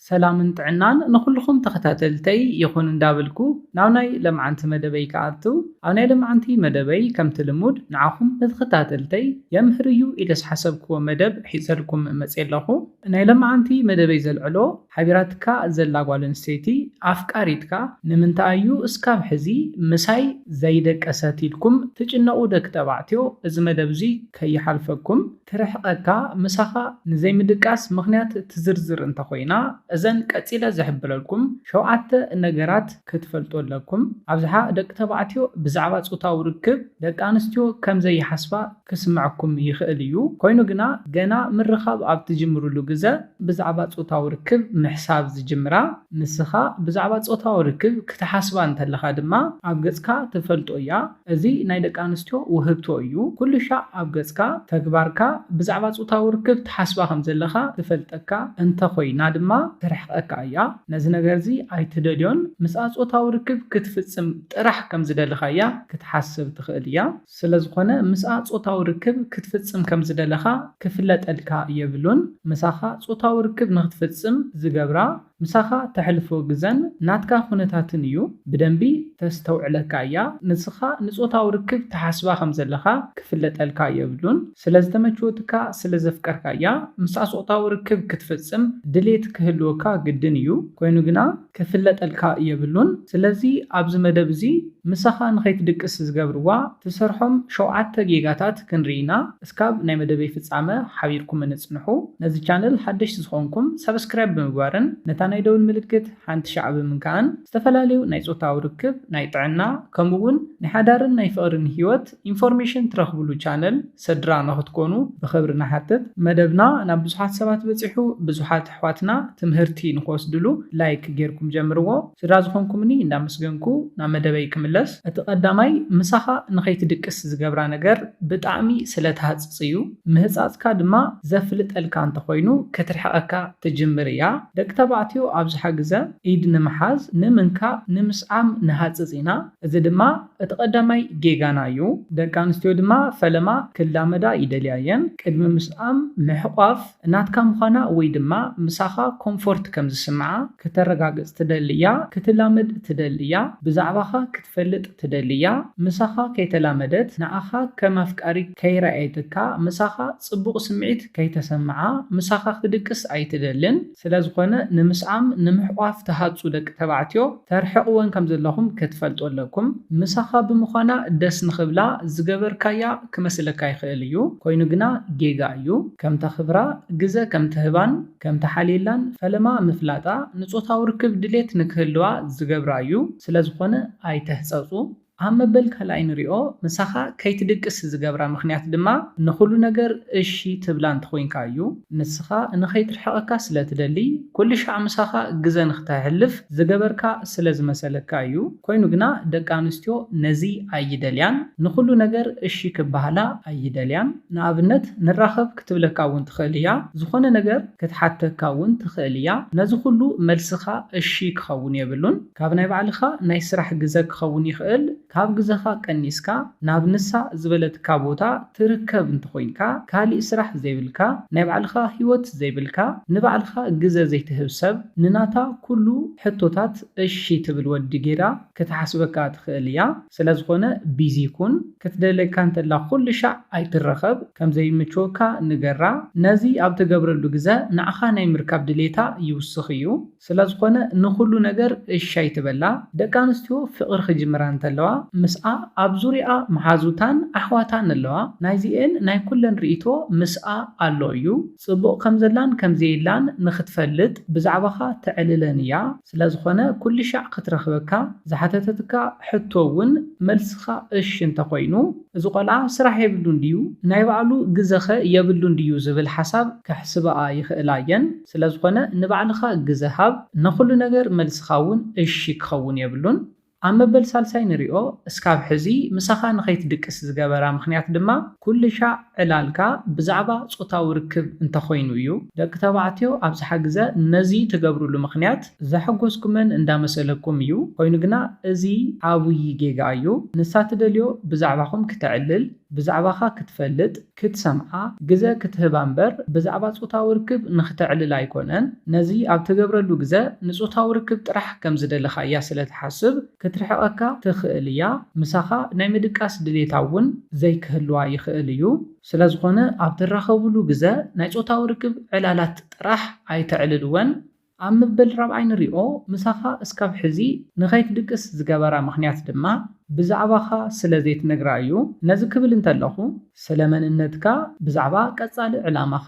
ሰላምን ጥዕናን ንኹሉኹም ተኸታተልተይ ይኹን እንዳብልኩ ናብ ናይ ለምዓንቲ መደበይ ክኣትው ኣብ ናይ ለምዓንቲ መደበይ ከምቲ ልሙድ ንዓኹም ንተኸታተልተይ የምህር እዩ ኢለ ዝሓሰብክዎ መደብ ሒዘልኩም መጽየ ኣለኹ። ናይ ለምዓንቲ መደበይ ዘልዕሎ ሓቢራትካ ዘላ ጓል ኣንስተይቲ ኣፍቃሪትካ ንምንታይ እዩ እስካብ ሕዚ ምሳይ ዘይደቀሰት ኢልኩም ትጭነቁ ደኪ ተባዕትዮ እዚ መደብ እዙይ ከይሓልፈኩም ትርሕቀካ ምሳኻ ንዘይምድቃስ ምኽንያት ትዝርዝር እንተኾይና እዘን ቀጺለ ዝሕብረልኩም ሸውዓተ ነገራት ክትፈልጡ ኣለኩም ኣብዝሓ ደቂ ተባዕትዮ ብዛዕባ ጾታዊ ርክብ ደቂ ኣንስትዮ ከም ዘይሓስባ ክስምዐኩም ይኽእል እዩ ኮይኑ ግና ገና ምርኻብ ኣብ ትጅምርሉ ግዘ ብዛዕባ ጾታዊ ርክብ ምሕሳብ ዝጅምራ ንስኻ ብዛዕባ ጾታዊ ርክብ ክትሓስባ እንተለኻ ድማ ኣብ ገጽካ ትፈልጦ እያ እዚ ናይ ደቂ ኣንስትዮ ውህብቶ እዩ። ኩሉሻዕ ኣብ ገጽካ፣ ተግባርካ፣ ብዛዕባ ጾታዊ ርክብ ትሓስባ ከም ዘለኻ ትፈልጠካ እንተ ኮይና ድማ ትርሕቀካ እያ። ነዚ ነገርዚ ኣይትደልዮን። ምስኣ ጾታዊ ርክብ ክትፍጽም ጥራሕ ከም ዝደለኻያ ክትሓስብ ትኽእል እያ። ስለ ዝኾነ ምስኣ ጾታዊ ርክብ ክትፍጽም ከም ዝደለኻ ክፍለጠልካ የብሉን። ምሳኻ ጾታዊ ርክብ ንኽትፍጽም ዝገብራ ምሳኻ ተሕልፎ ግዘን ናትካ ኩነታትን እዩ ብደንቢ ተስተውዕለካ እያ ንስኻ ንጾታዊ ርክብ ትሓስባ ከም ዘለኻ ክፍለጠልካ የብሉን ስለ ዝተመችወትካ ስለ ዘፍቀርካ እያ ምስኣ ጾታዊ ርክብ ክትፍጽም ድሌት ክህልወካ ግድን እዩ ኮይኑ ግና ክፍለጠልካ የብሉን ስለዚ ኣብዚ መደብ እዚ ምሳኻ ንኸይትድቅስ ዝገብርዋ ትሰርሖም ሸውዓተ ጌጋታት ክንሪኢ ኢና እስካብ ናይ መደበይ ፍጻመ ሓቢርኩምኒ ጽንሑ። ነዚ ቻነል ሓደሽቲ ዝኾንኩም ሳብስክራይብ ብምግባርን ነታ ናይ ደውል ምልክት ሓንቲ ሻዕ ብምንካእን ዝተፈላለዩ ናይ ጾታዊ ርክብ፣ ናይ ጥዕና ከምኡ ውን ናይ ሓዳርን ናይ ፍቕርን ሂወት ኢንፎርሜሽን ትረኽብሉ ቻነል ሰድራ ንኽትኮኑ ብኽብሪ ንሓትት። መደብና ናብ ብዙሓት ሰባት በጺሑ ብዙሓት። ኣሕዋትና ትምህርቲ ንክወስድሉ ላይክ ጌርኩም ጀምርዎ ስድራ ዝኮንኩምኒ እንዳመስገንኩ ናብ መደበይ ክምለስ እቲ ቀዳማይ ምሳካ ንከይትድቅስ ዝገብራ ነገር ብጣዕሚ ስለ ትሃጽጽ እዩ ምህጻጽካ ድማ ዘፍልጠልካ እንተኮይኑ ክትርሕቀካ ትጅምር እያ ደቂ ተባዕትዮ ኣብዝሓ ግዘ ኢድ ንምሓዝ ንምንካእ ንምስዓም ንሃጽጽ ኢና እዚ ድማ እቲ ቀዳማይ ጌጋና እዩ ደቂ ኣንስትዮ ድማ ፈለማ ክላመዳ ይደልያ እየን ቅድሚ ምስዓም ምሕቋፍ ናትካ ምዃና ወይ ድማ ምሳኻ ኮምፎርት ከም ዝስምዓ ከተረጋግጽ ትደሊ እያ፣ ክትላመድ ትደሊ እያ፣ ብዛዕባኻ ክትፈልጥ ትደሊ እያ፣ ምሳኻ ከይተላመደት፣ ንኣኻ ከም ኣፍቃሪት ከይረኣየትካ፣ ምሳኻ ጽቡቕ ስምዒት ከይተሰምዓ፣ ምሳኻ ክትድቅስ ኣይትደልን። ስለዝኾነ ንምስዓም፣ ንምሕቋፍ ትሃጹ ደቂ ተባዕትዮ፣ ተርሕቅወን ከም ዘለኹም ክትፈልጡ ኣለኩም ምሳኻ ብምዃና ደስ ንኽብላ ዝገበርካያ ክመስለካ ይኽእል እዩ ኮይኑ ግና ጌጋ እዩ ከም ተኽብራ ግዘ ከም ትህባን ከም ትሓልየላን ፈለማ ምፍላጣ ንፆታዊ ርክብ ድሌት ንክህልዋ ዝገብራ እዩ ስለዝኾነ ኣይትህፀፁ ኣብ መበል ካልኣይ ንሪኦ ምሳኻ ከይትድቅስ ዝገብራ ምኽንያት ድማ ንኹሉ ነገር እሺ ትብላ እንተኾይንካ እዩ። ንስኻ ንኸይትርሕቐካ ስለ ትደሊ ኩልሻዕ ምሳኻ ግዘ ንኽተሕልፍ ዝገበርካ ስለ ዝመሰለካ እዩ። ኮይኑ ግና ደቂ ኣንስትዮ ነዚ ኣይደልያን። ንኹሉ ነገር እሺ ክበሃላ ኣይደልያን። ንኣብነት ንራኸብ ክትብለካ እውን ትኽእል እያ። ዝኾነ ነገር ክትሓተካ እውን ትኽእል እያ። ነዚ ኹሉ መልስኻ እሺ ክኸውን የብሉን። ካብ ናይ ባዕልኻ ናይ ስራሕ ግዘ ክኸውን ይኽእል ካብ ግዘኻ ቀኒስካ ናብ ንሳ ዝበለትካ ቦታ ትርከብ እንተኾይንካ ካሊእ ስራሕ ዘይብልካ ናይ ባዕልኻ ሂወት ዘይብልካ ንባዕልኻ ግዘ ዘይትህብ ሰብ ንናታ ኩሉ ሕቶታት እሺ ትብል ወዲ ጌራ ክትሓስበካ ትኽእል እያ ስለዝኾነ ቢዚ ኩን ክትደልየካ እንተላ ኩሉሻዕ ኣይትረኸብ ከምዘይምችወካ ንገራ ነዚ ኣብትገብረሉ ግዘ ንዓኻ ናይ ምርካብ ድልየታ ይውስኽ እዩ። ስለዝኾነ ንኹሉ ነገር እሺ ኣይትበላ፣ ደቂ ኣንስትዮ ፍቕሪ ክጅምራ እንተለዋ ምስኣ ኣብ ዙርያኣ መሓዙታን ኣሕዋታን ኣለዋ፣ ናይዚኤን ናይ ኩለን ርኢቶ ምስኣ ኣሎ እዩ፣ ጽቡቕ ከምዘላን ከምዘየላን ንኽትፈልጥ ብዛዕባኻ ተዕልለን እያ፣ ስለዝኾነ ኩልሻዕ ክትረኽበካ ዝሓተተትካ ሕቶ እውን መልስኻ እሺ እንተኾይኑ እዚ ቆልዓ ስራሕ የብሉን ድዩ ናይ ባዕሉ ግዘኸ የብሉን ድዩ ዝብል ሓሳብ ከሕስባኣ ይኽእላ እየን። ስለዝኾነ ንባዕልኻ ግዘ ሃብ ነኹሉ ነገር መልስኻ እውን እሺ ክኸውን የብሉን ኣብ መበል ሳልሳይ ንሪኦ እስካብ ሕዚ ምሳኻ ንኸይትድቅስ ዝገበራ ምኽንያት ድማ ኩልሻዕ ዕላልካ ብዛዕባ ፆታዊ ርክብ እንተኾይኑ እዩ ደቂ ተባዕትዮ ኣብዝሓ ግዘ ነዚ ትገብርሉ ምኽንያት ዘሐጎስኩመን እንዳመሰለኩም እዩ ኮይኑ ግና እዚ ዓብይ ጌጋ እዩ ንሳ ትደልዮ ብዛዕባኹም ክተዕልል ብዛዕባኻ ክትፈልጥ ክትሰምዓ ግዘ ክትህባ እምበር ብዛዕባ ፆታዊ ርክብ ንክተዕልል ኣይኮነን። ነዚ ኣብ ትገብረሉ ግዘ ንፆታዊ ርክብ ጥራሕ ከም ዝደለኻያ ስለ ትሓስብ ክትርሕቐካ ትኽእል እያ። ምሳኻ ናይ ምድቃስ ድሌታ እውን ዘይክህልዋ ይኽእል እዩ። ስለ ዝኾነ ኣብ ትራኸብሉ ግዘ ናይ ፆታዊ ርክብ ዕላላት ጥራሕ ኣይተዕልልወን። ኣብ ምብል ራብዓይ ንሪኦ ምሳኻ እስካብ ሕዚ ንኸይትድቅስ ዝገበራ ምኽንያት ድማ ብዛዕባኻ ስለ ዘይትነግራ እዩ ነዚ ክብል እንተለኹ ስለ መንነትካ ብዛዕባ ቀጻሊ ዕላማኻ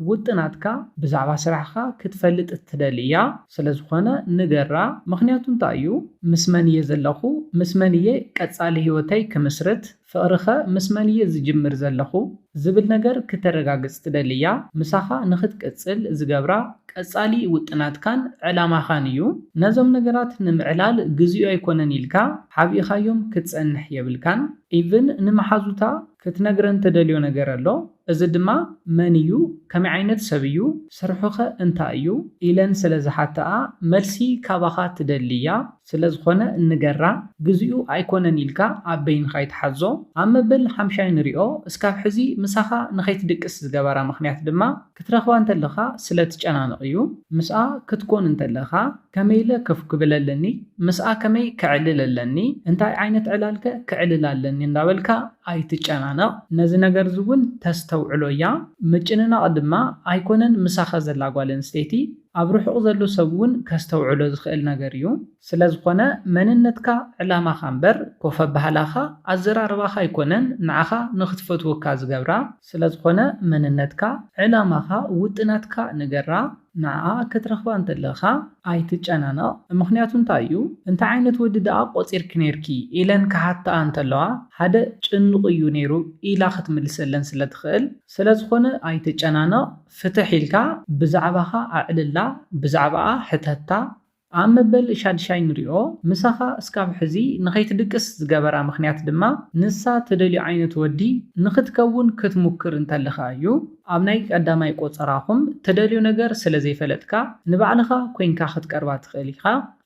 ውጥናትካ ብዛዕባ ስራሕኻ ክትፈልጥ ትደሊ እያ ስለ ዝኾነ ንገራ ምኽንያቱ እንታይ እዩ ምስ መን እየ ዘለኹ ምስ መን እየ ቀጻሊ ሂወተይ ክምስርት ፍቕሪኸ ምስ መን'የ ዝጅምር ዘለኹ? ዝብል ነገር ክተረጋግጽ ትደሊ እያ። ምሳኻ ንኽትቅጽል ዝገብራ ቀጻሊ ውጥናትካን ዕላማኻን እዩ። ነዞም ነገራት ንምዕላል ግዜኡ ኣይኮነን ኢልካ ሓቢእኻዮም ክትጸንሕ የብልካን። ኢቭን ንመሓዙታ ክትነግረን ትደልዮ ነገር ኣሎ። እዚ ድማ መን እዩ? ከመይ ዓይነት ሰብ እዩ? ስርሑኸ እንታይ እዩ? ኢለን ስለ ዝሓትኣ መልሲ ካባኻ ትደሊ እያ። ስለ ዝኾነ እንገራ ግዚኡ ኣይኮነን ኢልካ ኣብ በይንኻ ኣይትሓዞ። ኣብ መበል ሓምሻይ ንሪኦ እስካብ ሕዚ ምሳኻ ንኸይትድቅስ ዝገበራ ምኽንያት ድማ ክትረኽባ እንተለኻ ስለ ትጨናነቕ እዩ። ምስኣ ክትኮን እንተለኻ ከመይ ኢለ ከፍ ክብል ኣለኒ፣ ምስኣ ከመይ ከዕልል ኣለኒ፣ እንታይ ዓይነት ዕላልከ ከዕልል ኣለኒ እንዳበልካ ኣይትጨናነቕ። ነዚ ነገርዚ እውን ተስተውዕሎ እያ። ምጭንናቕ ድማ ኣይኮነን ምሳኻ ዘላ ጓል ኣንስተይቲ፣ ኣብ ርሑቕ ዘሎ ሰብ እውን ከስተውዕሎ ዝኽእል ነገር እዩ። ስለዝኾነ መንነትካ ዕላማኻ እምበር ኮፍ ኣባህላኻ ኣዘራርባኻ ኣይኮነን ንዓኻ ንኽትፈትወካ ዝገብራ። ስለዝኾነ መንነትካ ዕላማኻ ውጥናትካ ንገራ ንዓ ክትረኽባ እንተለኻ ኣይትጨናነቕ ምኽንያቱ እንታይ እዩ እንታይ ዓይነት ወዲ ደኣ ቆጺርኪ ኔርኪ ኢለን ክሓትኣ እንተለዋ ሓደ ጭኑቕ እዩ ኔሩ ኢላ ክትምልሰለን ስለትኽእል ስለዝኾነ ኣይትጨናነቕ ፍትሕ ኢልካ ብዛዕባኻ ኣዕልላ ብዛዕባኣ ሕተታ ኣብ መበል ሻድሻይ ንሪኦ ምሳኻ እስካብ ሕዚ ንኸይትድቅስ ዝገበራ ምኽንያት ድማ ንሳ ትደልዮ ዓይነት ወዲ ንኽትከውን ክትሙክር እንተለኻ እዩ ኣብ ናይ ቀዳማይ ቆጸራኹም ትደልዮ ነገር ስለ ዘይፈለጥካ ንባዕልኻ ኮይንካ ክትቀርባ ትኽእል ኢኻ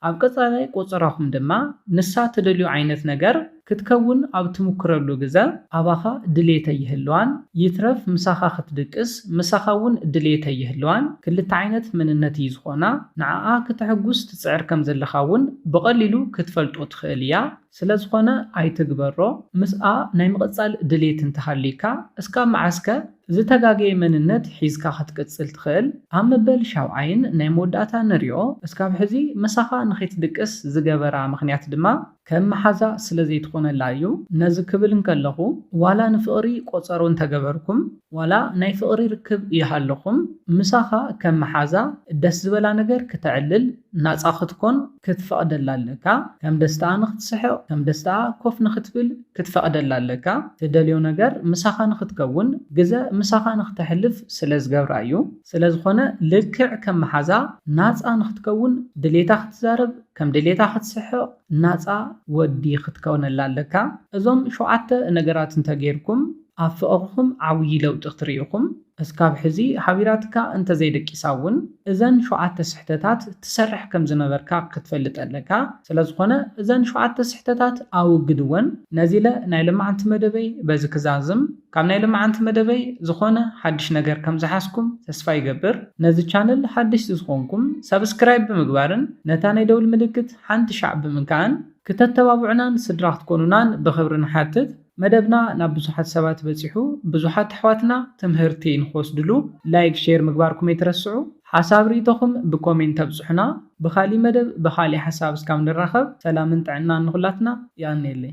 ኣብ ቀጻላይ ቆጸራኹም ድማ ንሳ ትደልዮ ዓይነት ነገር ክትከውን ኣብ ትምኩረሉ ግዘ ኣባኻ ድሌት ኣይህልዋን ይትረፍ ምሳኻ ክትድቅስ ምሳኻ እውን ድሌት ኣይህልዋን ክልተ ዓይነት መንነት እዩ ዝኾና ንዓኣ ክተሕጉስ ትፅዕር ከምዘለኻ እውን ብቐሊሉ ክትፈልጦ ትኽእል እያ ስለዝኾነ ኣይትግበሮ ምስኣ ናይ ምቕፃል ድሌት እንተሃልዩካ እስካብ መዓዝ ከ ዝተጋገየ መንነት ሒዝካ ክትቅፅል ትኽእል ኣብ መበል ሻውዓይን ናይ መወዳእታ ንሪኦ እስካብ ሕዚ ምሳኻ ንኸይትድቅስ ዝገበራ ምኽንያት ድማ ከም መሓዛ ስለ ዘይትኾነላ እዩ ነዚ ክብል እንከለኹ ዋላ ንፍቕሪ ቆጸሮ እንተገበርኩም ዋላ ናይ ፍቕሪ ርክብ ይሃልኹም ምሳኻ ከም መሓዛ ደስ ዝበላ ነገር ክተዕልል ናጻ ክትኮን ክትፈቕደላ ኣለካ ከም ደስትኣ ንክትስሕቕ ከም ደስትኣ ኮፍ ንክትብል ክትፈቕደላ ኣለካ ትደልዮ ነገር ምሳኻ ንክትከውን ግዘ ምሳኻ ንክተሕልፍ ስለ ዝገብራ እዩ ስለ ዝኾነ ልክዕ ከም መሓዛ ናጻ ንክትከውን ድሌታ ክትዛረብ ከም ድሌታ ክትስሕቕ ናጻ ወዲ ክትከውነላ ኣለካ እዞም ሸውዓተ ነገራት እንተ ጌርኩም ኣብ ፍቕርኹም ዓውዪ ለውጢ ክትርኢ ኢኹም እስካብ ሕዚ ሓቢራትካ እንተ ዘይደቂሳ ውን እዘን ሸውዓተ ስሕተታት ትሰርሕ ከም ዝነበርካ ክትፈልጥ ኣለካ ስለ ዝኾነ እዘን ሸውዓተ ስሕተታት ኣውግድወን ነዚለ ናይ ለማዓንቲ መደበይ በዚ ክዛዝም ካብ ናይ ልማዓንቲ መደበይ ዝኮነ ሓድሽ ነገር ከም ዝሓዝኩም ተስፋ ይገብር። ነዚ ቻነል ሓደሽቲ ዝኮንኩም ሳብስክራይብ ብምግባርን ነታ ናይ ደውል ምልክት ሓንቲ ሻዕ ብምንካእን ክተተባቡዑናን ስድራ ክትኮኑናን ብክብሪ ንሓትት። መደብና ናብ ብዙሓት ሰባት በጺሑ ብዙሓት ኣሕዋትና ትምህርቲ ንክወስድሉ ላይክ ሼር ምግባርኩም ኣይትረስዑ። ሓሳብ ሪኢቶኹም ብኮሜንት ኣብጹሑና። ብካሊእ መደብ ብካሊእ ሓሳብ እስካብ ንራኸብ ሰላምን ጥዕናን ንኩላትና የቀንየለይ።